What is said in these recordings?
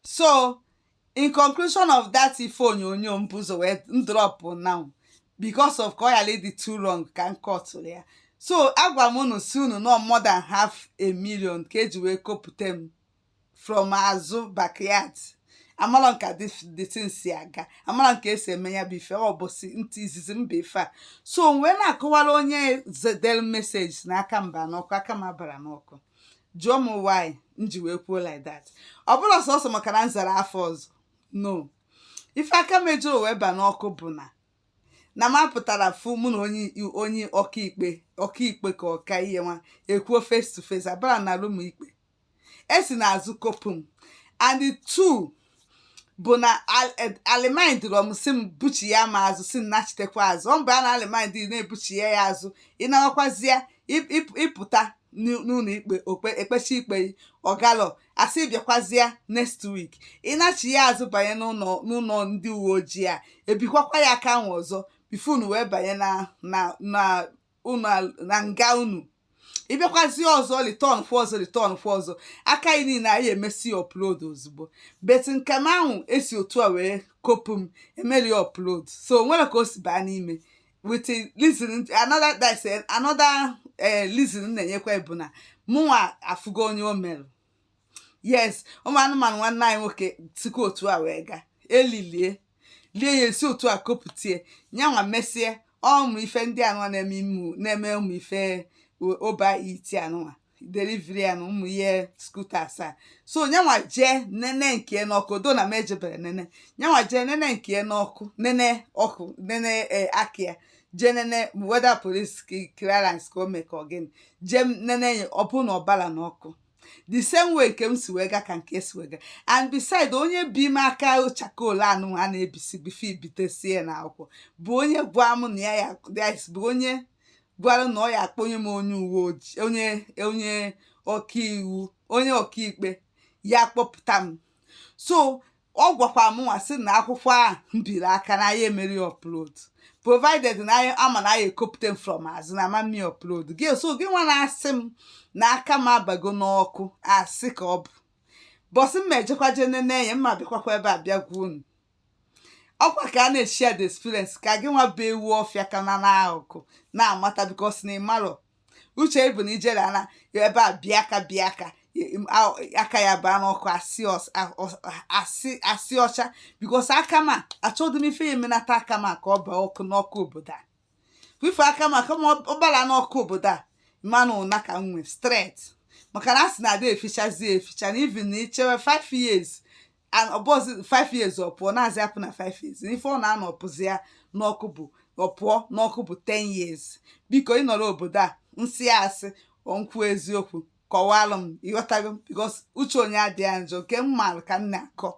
so in conclusion of that ife onyonyo m bu ụzọ wee drop now because of ka ọ ghara ịdị too long ka m kọtụrụ ya so agwa m unu sị unu na more than half a million ka eji wee kopụta m from azụ backyard amarọ m ka the thing si aga amarọ m ka esi eme ya bụ ife ọ bụ si ntị izizi m bụ ife a so m wee na-akọwara onye sendeli message na aka m ba n'ọkụ aka m abarọ n'ọkụ jụọ m why m ji wee kwuo like that ọ bụrọ sọsọ maka na m zara afa ọzọ no ife aka m ejirọ wee ba n'ọkụ bụ na na m apụtarọ fụ mụ na onye onye ọkaikpe ọkaikpe ka ọka ihe nwa ekwuo face to face abarọ m na rum ikpe esi n'azụ kopu m and the two bụ na a remandrọ m sị m buchiya m azụ sị m nachitekwa azụ ọ mgbe a na-a remand na-ebuchi ya ya azụ ịnarakwazi ya ịpụta n'ụnọ ikpe ekpesi ikpe gị ọ garọ asị bịakwazịa next week ị nachiya azụ banye n'ụnọ ndị uwe ojii a ebikwakwa ya aka ahụ ọzọ before unu wee banye na na na unu na nga unu ịbịakwazi ọzọ return fụ ọzọ return fụ ọzọ aka gị niile a ya-emesi upload ozugbo but nke m ahụ esi otu a wee kopu m emerọ upload so o nwerọ ka o si baa n'ime with a reason another that's a- another eh, reason m na-enyekwa gị bụ na mụnwa afụgo onye o mere yes ụmụ anụmanụ nwanne anyị nwoke sikwa otu a wee gaa elilie lie ya esi otu a kopụtie nyanwa mesie ụmụ ife ndị anụwa na-eme ụmụ na-eme ụmụ ife o- Uber Eats anụwa delivery anụ ụmụ ihe scooters a so nyanwa jee nene nke ya n'ọkụ although na m ejeberọ nene nyanwa jee nene nke ya n'ọkụ nene ọkụ nene eh, aka ya je nene whether police clearance ka o mee ka ọ gịnị je nene ya ọ bụ na ọ barọ n'ọkụ the same way nke m si wee ga ka nke ya si wee ga and beside onye bi m aka charcoal anụ a na-ebisi before ebitesie n'akwụkwọ bụ onye gwa m na ya ya bụ onye gwara na ọ ya akpọnye m onye uwe ojii onye onye ọkaiwu onye ọkaikpe ya kpọpụta m so ọ gwakwa m nwa sị na akwụkwọ ahụ m biri aka na anyị emerọ upload provided na anyị ama na anyị ekopụta m from azụ na ama eme upload gị so gị nwa na-asị m na aka m abago n'ọkụ asị ka ọ bụ ụbọsị m ejekwa je nene ya m ma-abịakwakwa ebe a bịa gwa unu ọkwa ka a na-eshare the experience ka gị nwa bụ ewu ọfịa ka nọ n'akụkụ na-amata because na ị marọ uche ịbụ na ijere ala ebe a bịa aka bịa aka aka ya baa n'ọkụ asị ọcha because aka m a achọghị m ife ya emenata aka m a ka ọ baa ọkụ n'ọkụ obodo a ịfụ aka m a ọ bara n'ọkụ obodo a manụ ụna ka m nwee straight maka na a sị na ada efichazi eficha na even na ichewe 5 years ọbọzi 5 years ọ pụọ na-azị apụ na 5 years ife ọ na-anọ ọ pụzia n'ọkụ bụ ọ pụọ n'ọkụ bụ 10 years biko ị nọrọ obodo a nsị asị nkwu eziokwu kọwalụ m ịghọtago m because uche onye adịghị njọ nke m maara ka m na-akọ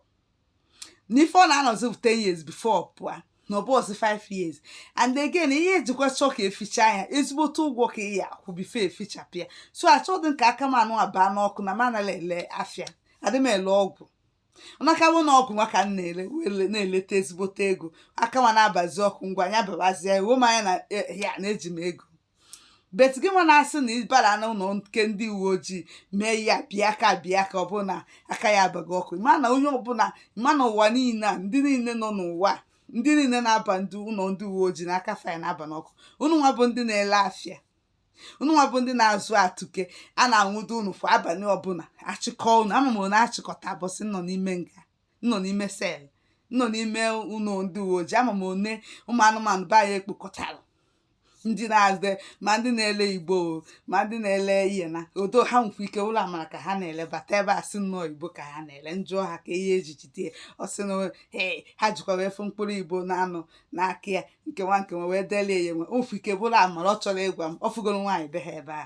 n'ife ọ na-anọzi bụ 10 years before ọ pụọ na ọbọzi 5 years and again ihe ejikwa chọọ ka eficha ya ezigbote ụgwọ ka ị ya akwụ before efichapụ ya so achọghị m ka aka m nụwa baa n'ọkụ na m anaghị ele afịa adị m ele ọgwụ ọnakawo na ọgwụ nwa ka m na-ele wee le- na-eleta ezigbote ego aka nwa na-abazi ọkụ ngwa nya babazie ruo m anya na eh, ya na eji m ego but gị nwa na-asị na ị bara n'ụlọ nke ndị uwe ojii mee ya bịa aka bịa aka ọbụla aka ya abaghị ọkụ ma na onye ọbụla ma na ụwa niile a ndị niile nọ n'ụwa a, ndị niile na-aba ndị ụlọ ndị uwe ojii na aka fa na-aba n'ọkụ unu nwa bụ ndị na-ele afịa unu nwa bụ ndị na-azụ atụke a na-anwụdo unu kwa abalị ọbụla achịkọ unu ama m na achịkọta boys nọ n'ime nga nọ n'ime cell nọ n'ime ụlọ ndị uwe ojii ama m one ụmụ anụmanụ be anyị ekpokọtara ndị na-azụ ma ndị na-ele igbo ma ndị na-ele ihe na ọdọ ha nwekwa ike ụlọ amara ka ha na-ele bata ebe a sị nnọọ igbo ka ha na-ele njụọ ha kee ihe eji jide ọ sị na ee ha jikwa wee fụ mkpụrụ igbo na-anọ n'aka ya nke nwa nke nwe wee delie ya enwe ofu ike bụrụ amara ọ chọrọ ịgwa m ọ fụgoro nwaanyị be ha ebe a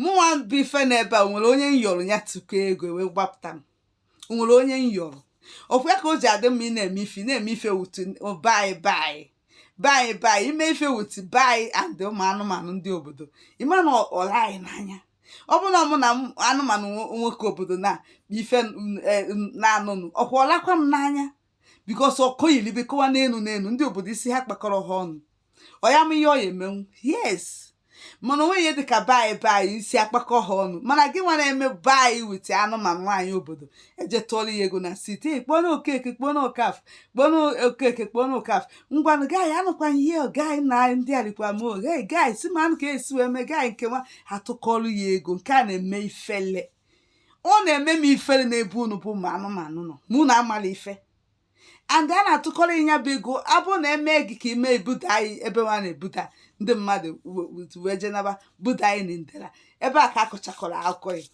mụnwa bụ ife na ebe a nwere onye nyọrọ ya tụkọọ ego wee gbapụta m nwere onye nyọrọ ọkwa ya ka o ji adị mma ị na-eme ife na-eme ife with be anyị be anyị be anyị be anyị ime ife with be anyị and ụmụ anụmanụ ndị obodo ịma na ọla anyị n'anya ọ bụrụ na mụ na anụmanụ nwoke obodo na ife e, na-anụnụ okwu ọlakwa m n'anya because ọkụ yilibe kọwa n'elu n'elu ndị obodo isi ha kpakọrọ ha ọnụ ọ ya ma ihe ọ ya emenwu yes mana onwe ihe dịka be anyị be anyị isi akpakọ ha ọnụ mana gị nwa na-eme be anyị with anụmanụ nwaanyị obodo eje tụọrọ ya ego na site kpọọ na okeke kpọọ na okafọ kpọọ na okeke kpọọ na okafọ ngwanụ guy anụkwanye ihe guy na ndị arikwa m oge guys ma anụ ka esi wee mee guy nke nwa atụkọrọ ya ego nke a na-eme ifele ọ na-eme m ifere n'ebe unu bụ ụmụ anụmanụ nọ ma unu amala ife and a na-atụkọrọ ị nya bụ ego abụ na eme gị ka ime ebuda anyị ebe nwa na-ebuda ndị mmadụ wee jenaba buda anyị na ndera ebe a ka akọchakọrọ akụkọ ya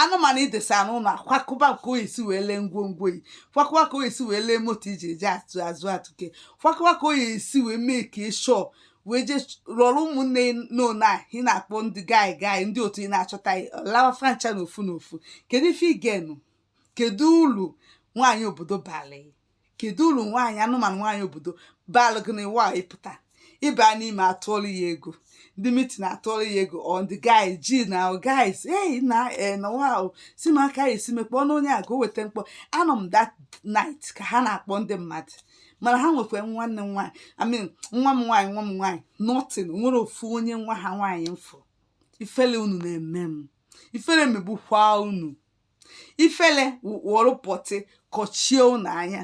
anụmanụ idesa n'ụlọ akwakụba nke o esi wee lee ngwongwo yi kwakụwa ka o esi wee lee moto iji eje atụ azụ atụke kwakụwa ka o esi wee mee ka ịshọ wee jee rọrọ ụmụnne n'one a ị na-akpọ ndị gai gai ndị otu ị na-achọta lawa francha na ofu na ofu kedu ife igenu kedu ulu nwaanyị obodo balị kedu ulu nwaanyị anụmanụ nwaanyị obodo balụ gị na iwa ịpụta ịba n'ime atụọlụ ya ego ndị mitin atụọlụ ya ego ndị guy ji na guys hey na eh, na wow si m aka esi mekpọọ n'onye a ka o weta mkpọ anọ m that night ka ha na-akpọ ndị mmadụ mana ha nwekwa nwanne m nwaanyị I mean nwa m nwaanyị nwa m nwaanyị nothing nwere ofu onye nwa ha nwaanyị m fụ ifele unu na-eme m ifele megbukwa unu ifele wụrụ pọtị kọchie unu anya